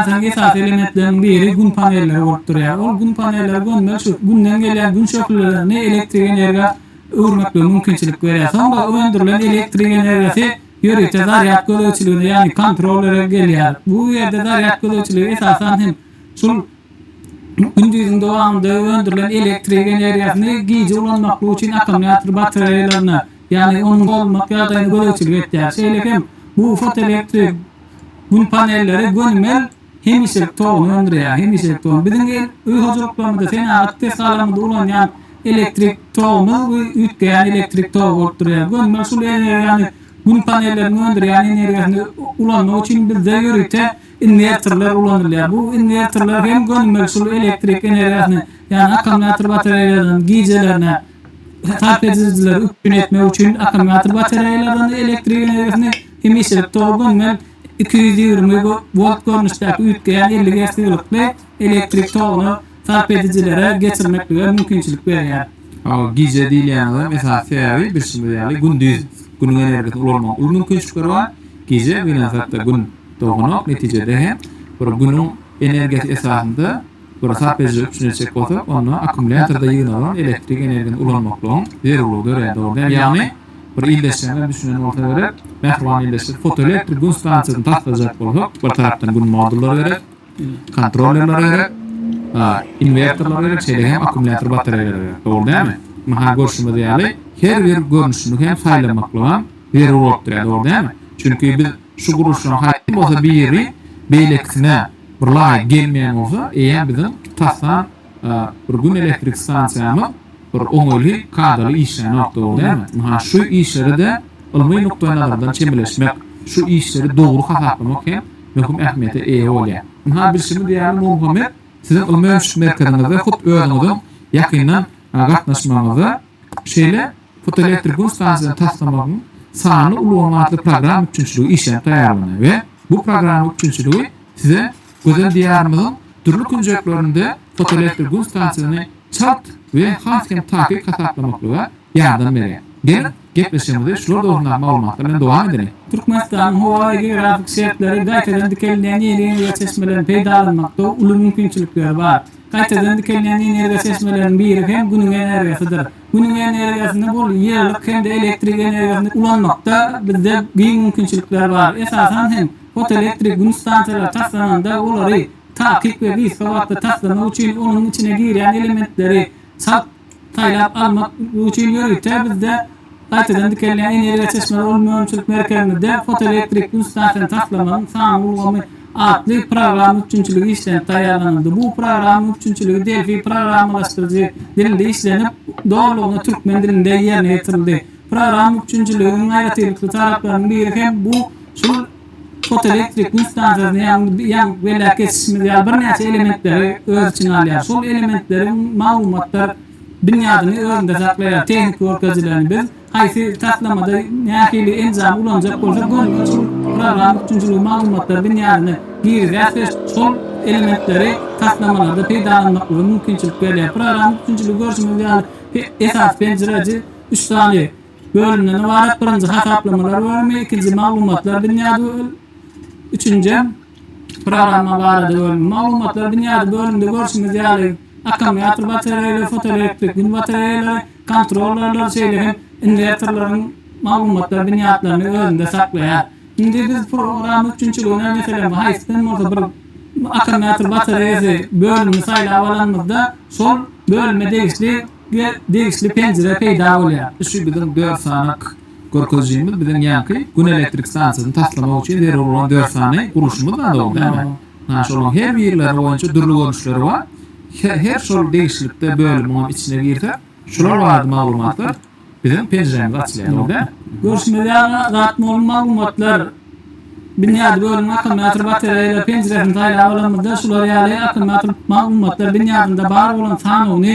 Ýasagyň esasy elementleriniň biri Gün panelleri bolup durýar. Ol Gün panelleri gömmeli şu Günden gelýän Gün şöhlelerini elektrik energiýa öwürmeklige mümkinçilik berýär. Soňra öndürilen elektrik energiýasy ýörite zarýad gözegçiligine, ýagny kontrollere gelýär. Bu ýerde zarýad gözegçiligi esasan hem şul Gündiziň dowamynda öndürilen elektrik energiýasyny gije ulanmaklyk üçin akkumulýator batareýalaryna, ýagny onuň dolmak ýagdaýyna gözegçilik etýär. Şeýle hem bu fotoelektrik Gün panelleri gönümel hemişelik toguny öndürýär, hemişelik togun. Biziň öý hojalyklarymyzda, senagat desgalarymyzda ulanýan elektrik togumyz bu üýtgeýän elektrik togy bolup durýar. Gönümel şul energiýany Gün panelleriniň öndürýän energiýasyny ulanmak üçin bizde ýörite inwertorlar ulanylýar. Bu inwertorlar hem gönümel şul elektrik energiýasyny, ýagny akkumulýator batareýalardan gijelerine sarp edijileri üpjün etmek üçin akkumulýator batareýalardan elektrik energiýasyny, Hemişelik togdan men iki ýüz ýigrimi wolt görnüşdäki üýtgeýän elli Ger sygylykly elektrik toguny sarp edijilere geçirmeklige mümkinçilik berýär. Hawa, gije diýilýänigem esasy sebäbi, bilşimiz ýaly, gündiz Günüň energiýasyny ulanmagyň uly mümkinçilikleri bar. Gije gynansak-da Gün doganok, netijede hem bir Günüň energiýasy esasynda bir sarp edijilere üpjün etjek bolsak, onda akkumulýatorda ýygnalan elektrik energiýasyny ulanmaklygyň zerurlygy dörýär, dogry däl? Ýagny. Bir ildeşlerden düşünen bolsa gerek. Mähriban ildeşler fotoelektrik gün stansiýasyny taslajak bolsak, bir tarapdan gün modullary gerek, kontrollerler gerek, inwertorlar gerek, şeýle hem akkumulýator batareýalar gerek. Dogry dälmi? Maha görşümiz ýaly, her bir görnüşini hem saýlamaklygyň zerur bolup durýar, dogry dälmi? Çünki biz şu gurluşlaryň haýsy bolsa biri beýlekisine bir laýyk gelmeýän bolsa, eýýäm biziň tasdan bir gün elektrik stansiýamyz bir oňaýly, kadaly işlänok, dogry dälmi? Ynha, şu işleri-de ylmy nukdaýnazardan çemeleşmek, şu işleri dogry hasaplamak hem möhüm ähmiýete eýe bolýar. Ynha, bilşimiz ýaly, Nurmuhammet, siziň ylmy-öňşük merkeziňizde hut özüňiziň ýakyndan gatnaşmagyňyzda şeýle fotoelektrik gün stansiýasyny taslamagyň sanly ulgamy atly programma üpjünçiligi işlenip taýýarlanýar we bu programma üpjünçiligi size Gözel Diýarymyzyň dürli künjeklerinde fotoelektr gün stansiýasyny çalt we has hem takyk hasaplamaklyga ýardam berýär. Geliň, gepleşigimizi şular dogrusyndaky maglumatlar bilen dowam edeliň. Türkmenistanyň howa we geografik şertleri gaýtadan dikelýän energiýa çeşmelerini peýdalanmakda uly mümkinçilikleri bar. Gaýtadan dikelýän energiýa çeşmeleriniň biri hem Günüň energiýasydyr. Günüň energiýasyny bul ýylylyk hem-de elektrik energiýasyny ulanmakda bizde giň mümkinçilikler bar. Esasan hem, Fotoelektrik gün stansiýalary taslananda olary takyk we gysga wagtda taslamak üçin onuň içine girýän elementleri çalt saýlap almak üçin ýörite bizde gaýtadan dikelýän energiýa çeşmeleri ol önümçilik merkezimizde fotoelektrik gün stansiýany taslamagyň sanly ulgamy atly programma üpjünçiligi işlenip taýýarlanyldy. Bu programma üpjünçiligi Delphi programmalaşdyryjy dilinde işlenip, dolulygyna türkmen dilinde ýerine ýetirildi. Program üpjünçiligiň aýratynlykly taraplarynyň biri hem bu şol fotoelektrik gün stansiýasyny ýa-da ýaň belläp geçişimiz ýaly birnäçe elementleri öz içine alýar. Şol elementleriň maglumatlar binýadyny özünde saklaýar. Tehniki görkezilerini biz haýsy taslamada nähili enjamy ulanjak bolsak, gönüden şol program üpjünçiligi maglumatlar binýadyny girizýäris we şol elementleri taslamalarda peýdalanmaklyga mümkinçilik berýär. Program üpjünçiligi görşümiz ýaly esasy penjireji. Üç sany bölümden ybarat, birinji hasaplamalar bölümi, ikinji maglumatlar binýady bölüm, üçünji programma barada bölüm. Maglumatlar binýady bölümde görşümiz ýaly akkumulýator batareýalar, fotoelektrik gün batareýalary, kontrollerler, şeýle hem inwertorlaryň maglumatlar binýatlaryny özünde saklaýar. Indi biz programma üpjünçiligine meselem haýsydan bolsa bir akkumulýator batareýasy bölümini saýlap alanymyzda şol bölüme degişli we degişli penjire peýda bolýar. Şu biziň dört sanak görkezijimiz biziň ýaňky Gün elektrik stansiýasyny taslamak üçin zerur bolan dört sany gurluşymyz zat ol, näme? Ana şolaryň her birleri boýunça dürli görnüşleri bar. Her şol degişlikde bölümiňem içine girsek, şular barada maglumatlar. Bizem penjirämiz açylýanok dä. Görüşmez ýaly zat mol maglumatlar. Binýady bölümiň akkumulýator batareýalar penjiresini saýlap alanymyzda şular ýaly akkumulýator maglumatlar binýadynda bar bolan sanawyny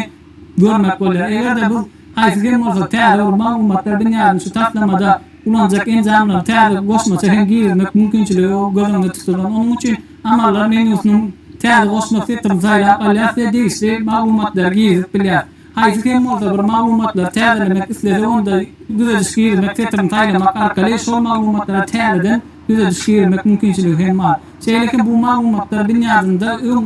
görmek bolýar. Eger-de biz haýsy hem bolsa täze bir maglumatlar binýadyny şu taslamada ulanjak enjamlary täze goşmaça hem girizmek mümkinçiligi göz öňünde tutulan. Onuň üçin Amallar menýusynyň Täze goşmak setrini saýlap alýas we degişli maglumatlary girizip bilýäs. Haýsy kem bolsa bir maglumatlary täzelemek islese onda düzediş girmek setirini saýlamak arkaly şol maglumatlara täzeden düzediş girmek mümkinçiligi hem bar. Şeýle hem bu maglumatlar binýadynda öň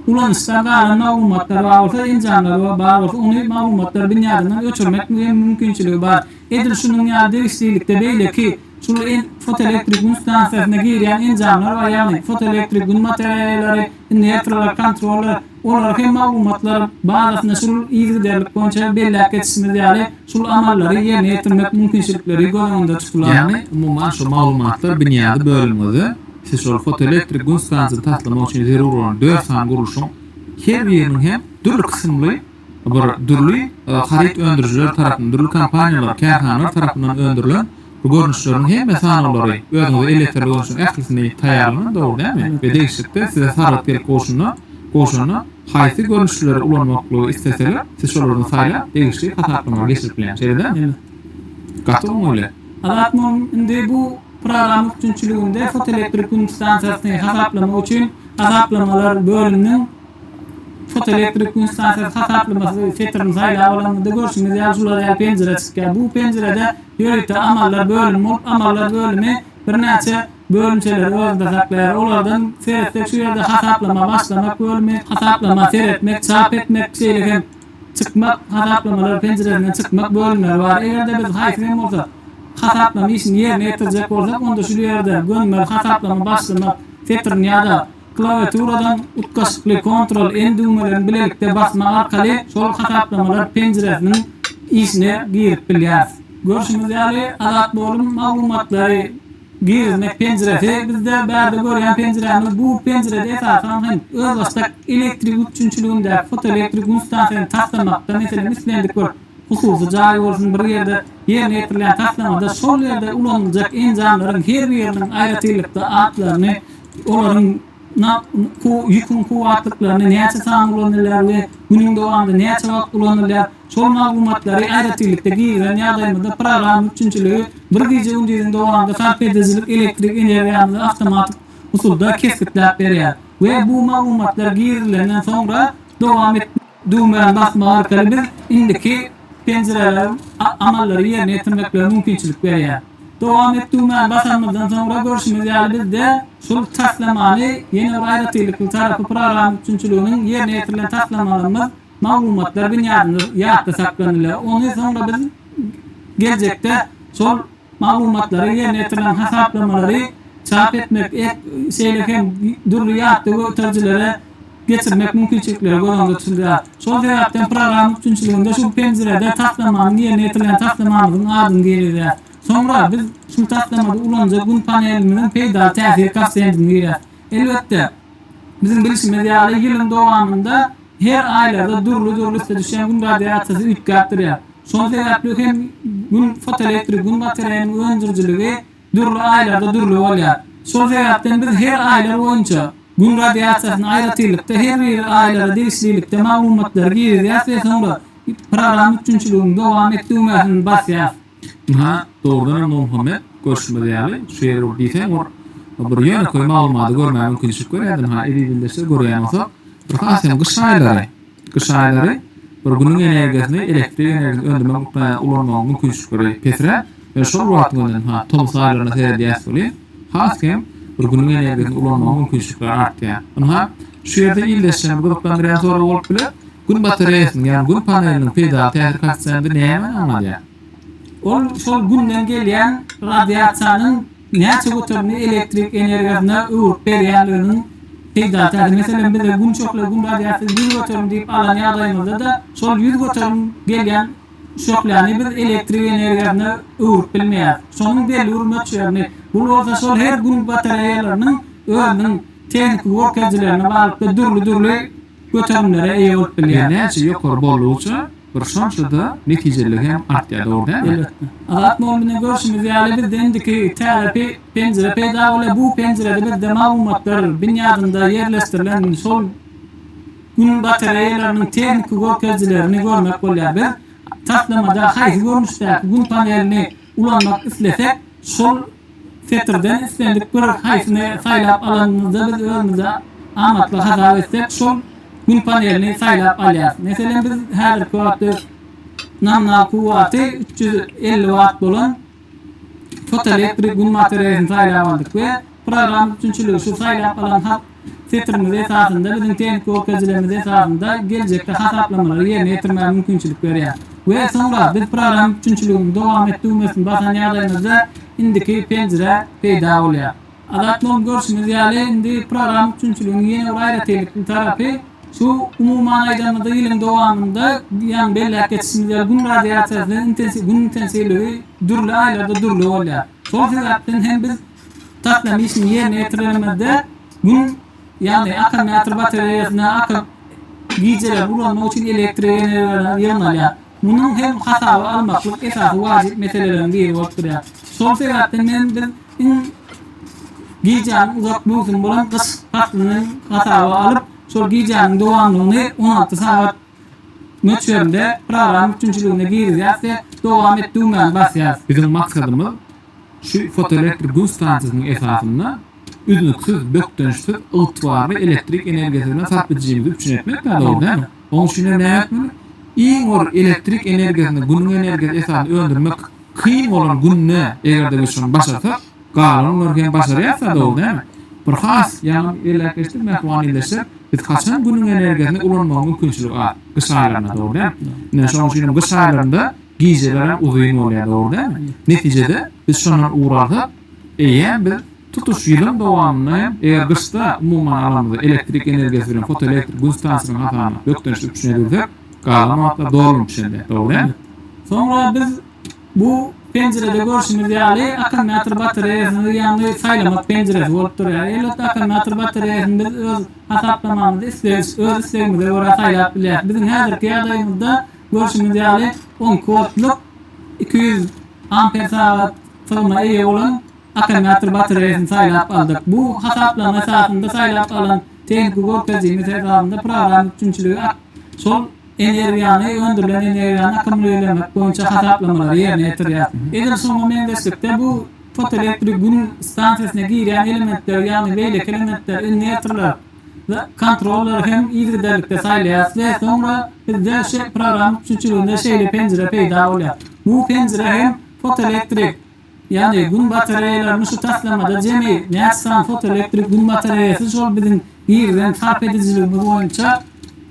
ulanyşdan galan maglumatlar bar bolsa enjamlar we bar bolsa ony maglumatlar binýadyndan öçürmek hem mümkinçiligi bar. Edil şunuň ýaly degişlilikde beýleki şul fotoelektrik gün stansiýasyna girýän enjamlar bar ýagny fotoelektrik gün bataraýalary, inwerterler, kontroller, Olar hem maglumatlar bazasynda şul yzygiderlik boýunça belläp geçişimiz ýaly, şul amallary ýerine ýetirmek mümkinçilikleri göz öňünde tutular. Ýagny, umuman şu maglumatlar binýady bölümiňizde siz şol fotoelektrik gün stansiýasyny taslamak üçin zerur bolan dört sany gurluşyň her biriniň hem dürli kysymly bir dürli haryt öndürijiler tarapyndan, dürli kompaniýalar, kärhanalar tarapyndan öndürilen Bu görnüşleriň hemme sanawlary özüňize elýeterli görnüşiň ählisini taýýarlanan, dogry dälmi? we degişlikde size sargyt gelip gowşanda, gowşanda, haýsy görnüşleri ulanmaklygy isleseler, siz şolardan saýlap, degişli hasaplama geçirip bilen. Şeýle dälmi? Ine, gaty oňaýly. Azat mum indi bu programma üpjünçiliginde fotoelektrik gün stansiýasyny hasaplamak üçin Hasaplamalar bölüminiň Fotoelektrik gün stansiýasy hasaplamasy setirini saýlap alanymyzda görşümiz ýaly şular ýaly penjire çykýar. Bu penjirede Ýörite amallar bölümi bolup, amallar bölümi birnäçe bölümçeleri özünde saklaýar. Olardan seretsek şu ýerde hasaplama başlamak bölümi, hasaplama seretmek, çap etmek, şeýle hem çykmak, hasaplamalar penjiresinden çykmak bölümleri bar. Eger-de biz haýsy hem bolsa hasaplama işini ýerine ýetirjek bolsak onda şu ýerden gönümel hasaplama başlamak setirini ýa-da Klawiaturadan utgaşykly Ctrl N düwmelerini bilelikde basmak arkaly şol hasaplamalar penjiresiniň işine girip bilýäris. Görşümiz ýaly, Adat Bolyň maglumatlary girizmek penjiresi bizde bärde görýän penjirämiz bu penjirede esasan hem özbaşdak elektrik üpjünçiligindäki fotoelektrik gün stansiýany taslamakda meselem islendik bir hususy jaý bolsun bir ýerde ýerine ýetirilýän taslamada şol ýerde ulanyljak enjamlaryň her biriniň aýratylykda atlaryny olaryň ýüküň kuwwatlyklaryny, näçe sany ulanylýar we günüň dowamynda näçe wagt ulanylýar, şol maglumatlary aýratynlykda girizýän ýagdaýymyzda programma üpjünçiligi bir gije-gündiziň dowamynda sarp edijilik elektrik energiýamyzy awtomatik usulda kesgitläp berýär we bu maglumatlar girizilenden soňra dowam Düwmäni basmak arkaly biz indiki penjireleriň amallary ýerine ýetirmeklerine mümkinçilik berýär. Dowam et düwmäni basanymyzdan soňra görşümiz ýaly bizde şul taslamany ýene bir aýratynlykly tarapy program üpjünçiliginiň ýerine ýetirilen taslamalarymyz maglumatlar binýadynda ýatda saklanylar. Ony soňra biz geljekde şol Maglumatlary, ýerine ýetirilen hasaplamalary çap etmek, şeýle hem dürli ýat döwetjilere geçirmek mümkinçilikleri göz öňünde tutulýar. Şol sebäpden programma üpjünçiliginde şu penjirede taslamanyň ýerine ýetirilen taslamamyzyň adyny girizýär. Soňra biz şu taslamada ulanyja Gün panelimiziň peýdaly täsir koeffisiýentini girizýär. Elbetde, biziň bilşimiz ýaly, ýylyň dowamynda, Her aýlarda dürli-dürli üste düşýän Gün radiasiýasy üýtgäp durýar. Şol sebäpli hem Gün fotoelektrik Gün batareýanyň öndürijiligi dürli aýlarda dürli bolýar. Şol sebäpden biz her aýlar boýunça Gün radiasiýasyny aýratynlykda her bir aýlara degişlilikde maglumatlary girizýäs we soňra programma üpjünçiligini dowam et düwmäsini basýas. Ynha, dogrudan hem Nurmuhammet, görşümiz ýaly, şu ýeri bir diýseň bir bir ýönekeý maglumady görmäge mümkinçilik berýärdi. Ynha, eziz ildeşler görýän bolsa, bir has hem gyş aýlary, gyş aýlary bir günüň energiýasyny, elektrik energiýasyny öndürmek miqdarynda ulanmagyň mümkinçilikleri pesräp, ýöne şol bir wagtyň özünde, ynha, tomus aýlaryna seredýäs welin, has hem bir günüň energiýasyny ulanmagyň mümkinçilikleri artýar. Ynha, şu ýerde ildeşlerimizi gyzyklandyrýan sorag bolup biler, Gün batareýasynyň, ýagny Gün paneliniň peýdaly täsir koeffisiýenti nämä aňladýar? Ol şol Günden gelýän radiasiýanyň näçe göterimini elektrik energiýasyna öwrüp berýänliginiň peýdaly täsiri. Meselem, bize Gün şöhle, Gün radiasiýasy ýüz göterim diýip alan ýagdaýymyzda-da, şol ýüz göterim gelýän şöhläni biz elektrik energiýasyna öwrüp bilmeýäris. Şonuň belli bir möçberini, bu bolsa şol her Gün batareýalarynyň özüniň tehniki görkezijilerine baglyklykda dürli-dürli Göterimlere eýe bolup bilýän näçe ýokary boldugyça, bir şonça-da netijelilik hem artýar, dogry dälmi? Elbetde. Azat mugun bilen görşümiz ýaly, bizde indiki täze penjire peýda bolýar. Bu penjirede bizde maglumatlar binýadynda ýerleşdirilen şol Gün batareýalarynyň tehniki görkezijilerini görmek bolýar. Biz taslamada haýsy görnüşdäki Gün panelini ulanmak islesek, şol Setirden islendik bir haýsyny saýlap alanymyzda biz özümizi amatly hasap etsek şol Gün panelini saýlap alýarys. Meselem biz häzirki wagtda nominal kuwwaty üç ýüz elli watt bolan fotoelektrik Gün batareýasyny saýlap aldyk we program üpjünçiligi şu saýlap alan Setirimiz esasynda biziň tehniki görkezijilerimiz esasynda geljekde hasaplamalary ýerine ýetirmäge mümkinçilik berýär we soňra biz programma üpjünçiligini dowam et düwmesini basan ýagdaýymyzda indiki penjire peýda bolýar. Azat mugallym görşümiz ýaly indi programma üpjünçiliginiň ýene bir aýratynlykly tarapy şu umuman aýdanymyzda ýylyň dowamynda ýaňy belläp geçişimiz ýaly gün radiasiýasynyň intensiw gün intensiwligi dürli aýlarda dürli bolýar. Şol sebäpden hem biz Taslama işiniň ýerine ýetirilmezde Gün, ýagny akkumulýator batareýasyna akyp, gijeler ulanmak üçin elektrik energiýalar ýygnalýar. Munuň hem hasaba almaklyk esasy wajyp meseleleriň biri bolup durýar. Şol sebäpden hem biz iň gijäniň uzak möwsümi bolan gyş paslyny hasaba alyp, şol gijäniň dowamlygyny on alty sagat möçberinde program üpjünçiligine girizýäs we dowam et düwmäni basýas. Biziň maksadymyz şu fotoelektrik gün stansiýasynyň esasynda üznüksiz, bökdençsiz, ygtybarly elektrik energiýasy bilen sarp edijimizi üpjün etmek däl, dogry dälmi? Onuň üçin hem näme etmeli? Iň bir elektrik energiýasyny günüň energiýasy esasynda öndürmek kyn bolan günde eger-de biz şony başarsak, Galanlary hem başarýas sadow näme? Bir has ýaňy belläpgeçdik Mähriban ildeşler, biz haçan Günüň energiýasyny ulanmaga mümkinçilik az? Gyş aýlarynda dogry dälmi? Ine şonuň üçin hem gyş aýlarynda gijeler hem uzyn bolýar dogry dälmi? Netijede biz şondan ugur alsak eýýäm biz tutuş ýylyň dowamynda hem eger gyşda umuman alamyzda elektrik energiýasy bilen fotoelektrik Gün stansiýasynyň hasabyna bökdençli üpjün edilsek galan wagtlar dolanyp düşendir dogry dälmi? Soňra biz Bu penjirede görşüňiz ýaly akkumulýator batareýasyny ýaňy saýlamak penjiresi bolup durýar. Elbetde akkumulýator batareýasyny biz öz hasaplamamyzda isleýiş, öz islegimize görä saýlap bilýäris. Biziň häzirki ýagdaýymyzda görşüňiz ýaly onki woltlyk iki ýüz amper sagat sygyna eýe bolan akkumulýator batareýasyny saýlap aldyk. Bu hasaplama esasynda saýlap alan tehniki görkezijimiz esasynda programma üpjünçiligi şol Energiýany, öndürilen energiýany akkumulirlemek boýunça hasaplamalary ýerine ýetirýär. Edil şuňa meňzeşlikde bu fotoelektrik gün stansiýasyna girýän elementleri, ýagny beýleki elementleri, inwerterleri we kontrollary hem yzygiderlikde saýlaýarys we soňra bizde şu programma üpjünçiliginde şeýle penjire peýda bolýar. Bu penjire hem fotoelektrik Ýagny Gün batareýalaryny şu taslamada jemi näçe sany fotoelektrik Gün batareýasy şol biziň girden sarp edijiligimiz boýunça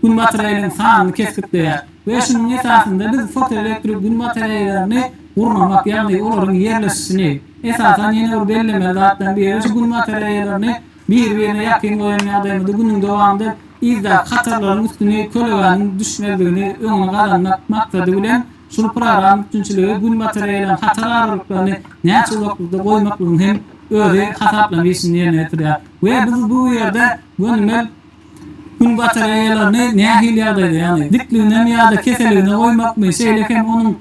Gün batareýalarynyň sanyny kesgitleýär we şunuň esasynda biz fotoelektrik Gün batareýalaryny gurnamak ýagny olaryň ýerleşişini esasan ýene bir bellemeli zatlaryň biri şu Gün batareýalaryny biri birine ýakyn goýan ýagdaýymyzda Günüň dowamynda yzdaky hatarlaryň üstüni kölegäniň düşmezligini öňüni gazanmak maksady bilen Şol program üpjünçiligi günbatar ýaýylan hatar aralyklaryny näçe uzaklykda goýmaklygyň hem özi hasaplama işini ýerine ýetirýär we biz bu ýerde gönümel günbatar ýaýylaryny nähili ýagdaýda, ýagny dikliginem ýa-da keseligine goýmakmy, şeýle hem onuň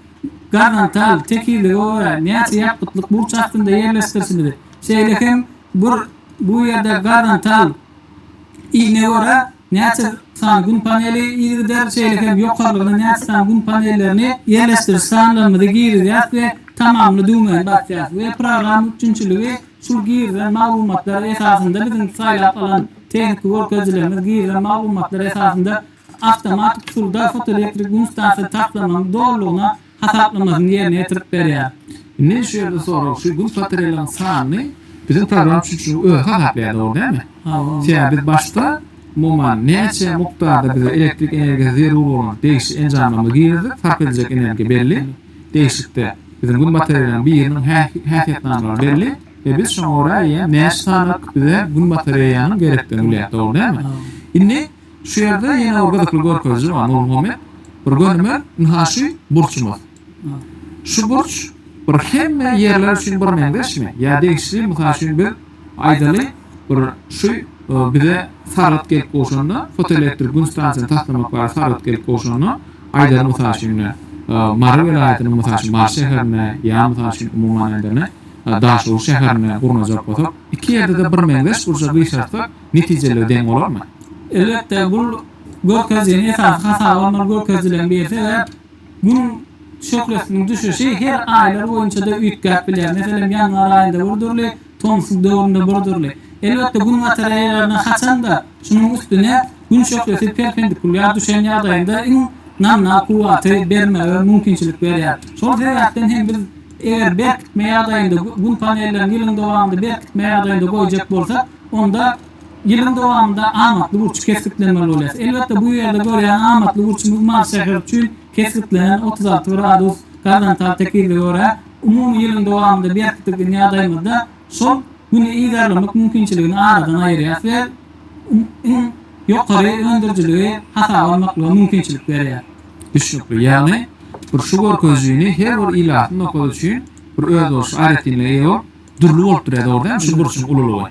gorzontal, tekizlige görä näçe ýapgytlyk burç astynda ýerleşdirişimizi, şeýle hem bir bu ýerde gorzontal, Iline görä, näçe sany Gün paneli yzygider, şeýle hem ýokarlygyna näçe sany Gün panellerini ýerleşdiriş sanlarymyzy girizýäris we Tamamla düwmäni basýarys we program üpjünçiligi şul girizen maglumatlar esasynda biziň saýlap alan tehniki görkezijilerimiz girizen maglumatlar esasynda awtomatik usulda fotoelektrik Gün stansiýasy taslamanyň dolulygyna hasaplamasyny ýerine ýetirip berýär. Men şu ýerde sorag şu gün patreliň sanyny biziň program çüçüniň özi hasaplaýar dogry dälmi? Sebäbi biz başda umuman näçe mukdarda bize elektrik energiýasy zerur bolan degişli enjamlarymyzy girerdik sarp ediljek energiýa belli degişlikde biziň gün batareliň biriniň häsiýetnamalary belli we biz şoňa görä eýýäm näçe sanyk bize gün batareýanyň gerekdigini bilýäs dogry dälmi? Indi Şu ýerde ýene bir gyzykly görkeziji bar, Nurmuhammet. Bir gönüme, ynha şu burçumyz. Şu burç bir hemme ýerler üçin bir meňzeşmi? Ýa degişli, mysal üçin biz aýdaly, bir şu bize Saragt gelip gowşanda, fotoelektrik gün stansiýasyny taslamak barada Saragt gelip gowşanda, aýdaly mysal üçin ine, Mary welaýatynyň mysal üçin Mary şäherine ýa mysal üçin umuman aýdaly, Daşoguz şäherine gurnajak bolsak, iki ýerde-de bir meňzeş burça gyşartsak, netijeleri deň bolarmy? Elbetde, bu görkezijiniň esasy hasaby alnan görkezijileriň biri sebäp Gün şöhlesiniň düşüşi her aýlar boýunça-da üýtgäp bilýär. Meselem, ýanwar aýynda bir dürli, tomsuk döwründe bir dürli. Elbetde, Gün bataraýalaryna haçan-da şunuň üstüne Gün şöhlesi perpendikulýar düşen ýagdaýynda iň nominal kuwwaty bermege mümkinçilik berýär. Şol sebäpden hem biz eger berkitme ýagdaýynda Gün panellerini ýylyň dowamynda berkitme ýagdaýynda goýjak bolsak, onda ýylyň dowamynda amatly burç kesgitlenmeli bolýar. Elbetde, bu ýerde görýän amatly burçumyz Mary şäheri üçin kesgitlenen otuz alty gradus gorizontal tekizlige görä, umumy ýylyň dowamynda berkitdigiň ýagdaýymyzda şol Güni yzarlamak mümkinçiligini aradan aýyrýar we iň ýokary öndürijiligi hasaba almaklyga mümkinçilik berýär. Düşnükli, ýagny bir şu görkezijini her bir ilatly nokad üçin bir özboluşly aýratynlyga eýe bolup, Dürli bolup durýar, dogrudanam, şu burçuň ululygy.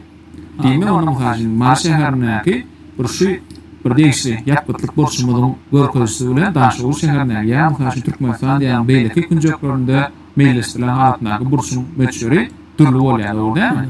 Diýmek, onda, mysal üçin, Mary şäherindäki burçy bir degişli ýapgytlyk burçumyzyň görkezijisi bilen Daşoguz şäherindäki ýa, mysal üçin, Türkmenistan diýarnyň beýleki künjeklerinde meýilleşdirilen halatyndaky burçuň möçberi dürli bolýar, dogry dälmi?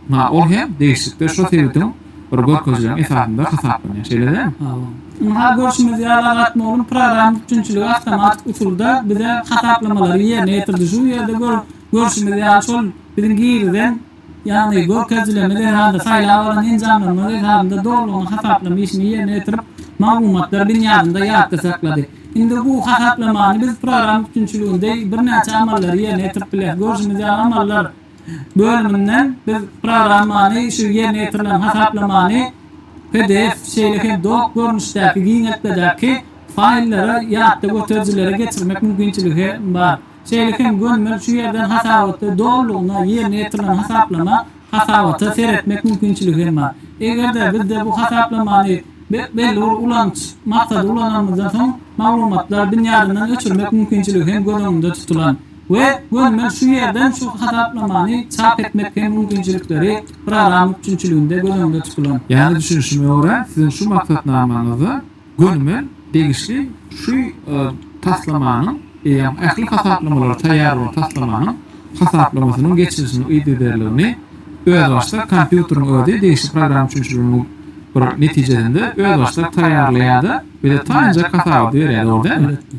Ynha, ol hem degişlikde şo sebitiň bir görkezijiniň esasynda hasaplanýar. Şeýle dälmi? Hawa. Ynha, görşümiz ýaly, Azat mugallym programma üpjünçiligi awtomatik usulda bize hasaplamalary ýerine ýetirdi. Şu ýerde görüp. Görşümiz ýaly, şol biziň girizen, ýagny görkezjileme zerarly saýlap alan enjamlarymyz esasynda dolulygyna hasaplama işini ýerine ýetirip, maglumatlar binýadynda ýatda saklady. Indi bu hasaplamany biz program üpjünçiliginde birnäçe amallary ýerine ýetirip bileris. Görşümiz ýaly, amallar bölüminden biz programmany, şu ýerine ýetirilen hasaplamany pdf, şeýle hem dock görnüşdäki giňeltmedäki faýllara ýatda göterijilere geçirmek mümkinçiligi hem bar. Şeýle hem gönümel şu ýerden hasabatda dolulygyna ýerine ýetirilen hasaplama hasabata seretmek mümkinçiligi hem bar. Eger-de bizde bu hasaplamany belli bir ulanyş maksady ulananymyzdan soň maglumatlar binýadyndan öçürmek mümkinçiligi hem göz öňünde tutulan we gönümel şu ýerden şu hasaplamany çap etmek hem mümkinçilikleri program üpjünçiliginde göz öňünde tutulan. Ýaly düşünişime görä, siziň şu maksatnamaňyzda Gönümel degişli şu taslamanyň eýýäm ähli hasaplamalary taýýar bolan taslamanyň hasaplamasynyň geçirilişiniň yzygiderligini özbaşdak kompýuteriň özi degişli program üçinçiliginiň bir netijesinde özbaşdak taýýarlaýarda bize taýynjak hasabaty berýär dogry dälmi? Elbetde.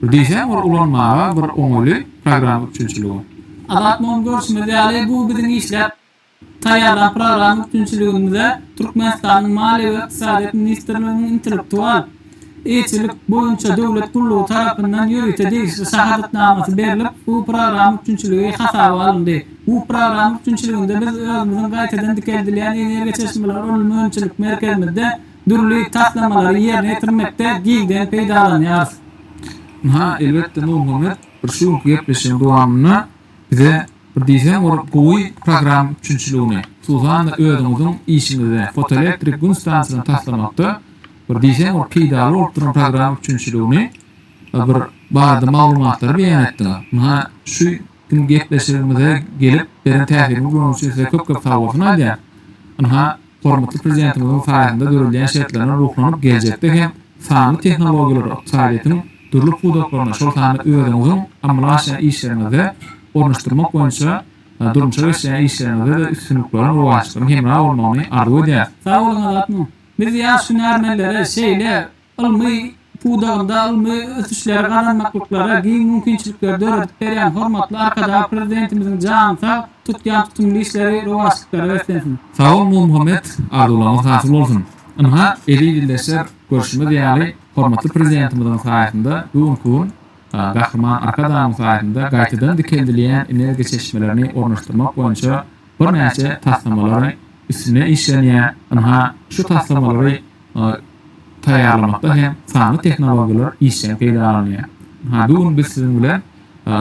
Bir diýseň ol ulanmaga bir oňaýly program üçinçiligi. Azat muny görşümiz ýaly bu biziň işläp Taýýarlan programma üpjünçiligimize Türkmenistanyň Maliýe we ykdysadyýet ministrliginiň Intellektual eýeçilik boýunça döwlet gullugy tarapyndan ýörite degişli şahadatnamasy berlip, bu programma üpjünçiligi hasaba alyndy. Bu programma üpjünçiliginde biz özümiziň gaýtadan dikeldilýän energiýa çeşmeleri ylmy önümçilik merkezimizde dürli taslamalary ýerine ýetirmekde giňden peýdalanýarys. Ynha, elbetde, Nurmuhammet, bir şu günki gepleşigiň dowamynda bize Bir diýseň ol gowy program üpjünçiligini, hususan-da özüňiziň işiňizde fotoelektrik gün stansiýasyny taslamakda bir diýseň ol peýdaly bolup duran program üpjünçiligini we bir barada maglumatlary beýan etdiňiz. Munha şu gün gepleşigimize gelip beren täsiriňiz bonuň üçin size köp-köp sag bolsun aýdýan. Ynha. Hormatly Prezidentimiziň saýasynda döredilýän şertlerden ruhlanyp geljekde hem sanly tehnologiýalary ykdysadyýetiň dürli pudaklaryna şol sanda özüňiziň amala aşyrýan işleriňizde ornaşdyrmak boýunça durmuşa geçirýän işleriňizde-de üstünlikleriň rowaçlygyň hemra bolmagyny arzuw edýäris. Sag boluň Azat mum. Biz ýaş hünärmenlere şeýle Ylmy pudagynda ylmy ösüşleri gazanmaklyklara giň mümkinçilikleri döredip berýän hormatly Arkadag Prezidentimiziň jany sag, tutýan tutumly işleri rowaçlyklara beslensin! Sag bol Nurmuhammet, arzuwlaryňyz hasyl bolsun! Ynha, eziz ildeşler, görşümiz ýaly, hormatly Prezidentimiziň saýasynda bu günki gün Gahryman Arkadagymyz saýasynda gaýtadan dikeldilýän energiýa çeşmelerini ornaşdyrmak boýunça birnäçe taslamalary üstünde işlenýär, ynha, şu taslamalary taýýarlamakda hem sanly tehnologiýalar işjeň peýdalanylýar. Bu gün biz siziň bilen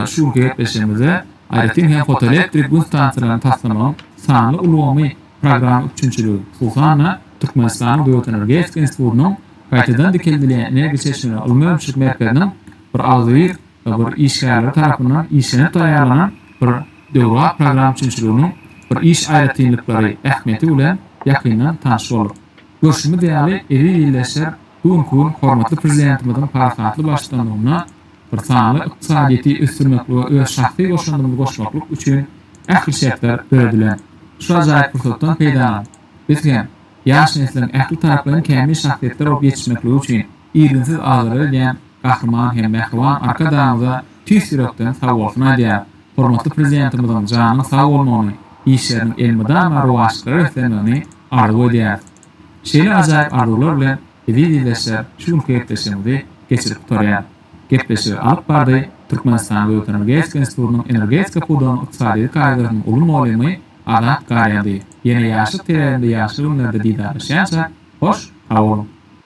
şu günki gepleşigimizde aýratyn hem fotoelektrik gün stansiýalaryny taslamagyň sanly ulgamy programma üpjünçiligi, hususan-da, Türkmenistanyň Döwlet energetika institutynyň Gaýtadan dikeldilýän energiýa çeşmeleri ylmy-öňçülük merkeziniň bir agzybir bir işgärleri tarapyndan işlenip taýýarlanan bir döwrebap programma üpjünçiliginiň bir iş aýratynlyklary, ähmiýeti bilen ýakyndan tanyş bolduk. Görşümiz ýaly, eziz-illeşler, bu günki gün hormatly Prezidentimiziň parasatly baştutanlygynda bir sanly ykdysadyýeti ösdürmeklige öz şahsy goşandymyzy goşmaklyk üçin ähli şertler döredilen. Şu ajaýyp pursatdan peýdalanyp, biz hem ýaş nesliň ähli taraplaýyn kämil şahsyýetler bolup ýetişmekligi üçin irginsiz aljyrag edýän Gahryman hem mähriban Arkadagymyza tüýs ýürekden sagbolsun aýdýaryn. Hormatly Prezidentimiziň janynyň sag bolmagyny, işleriniň elmydama rowaçlyklara beslenmegini arzuw edýäris. Şeýle ajaýyp arzuwlar bilen eziz ildeşler şu günki gepleşigimizi geçirip gutarýan. Gepleşigi alyp bardy Türkmenistan we Ötenergetika institutynyň Energetika pudagynyň ykdysadyýeti kaýdasynyň uly molymy Azat Garýady. Ýene ýaşlyk teleginde ýagşy günlerde didarlaşýança hoş saboluň.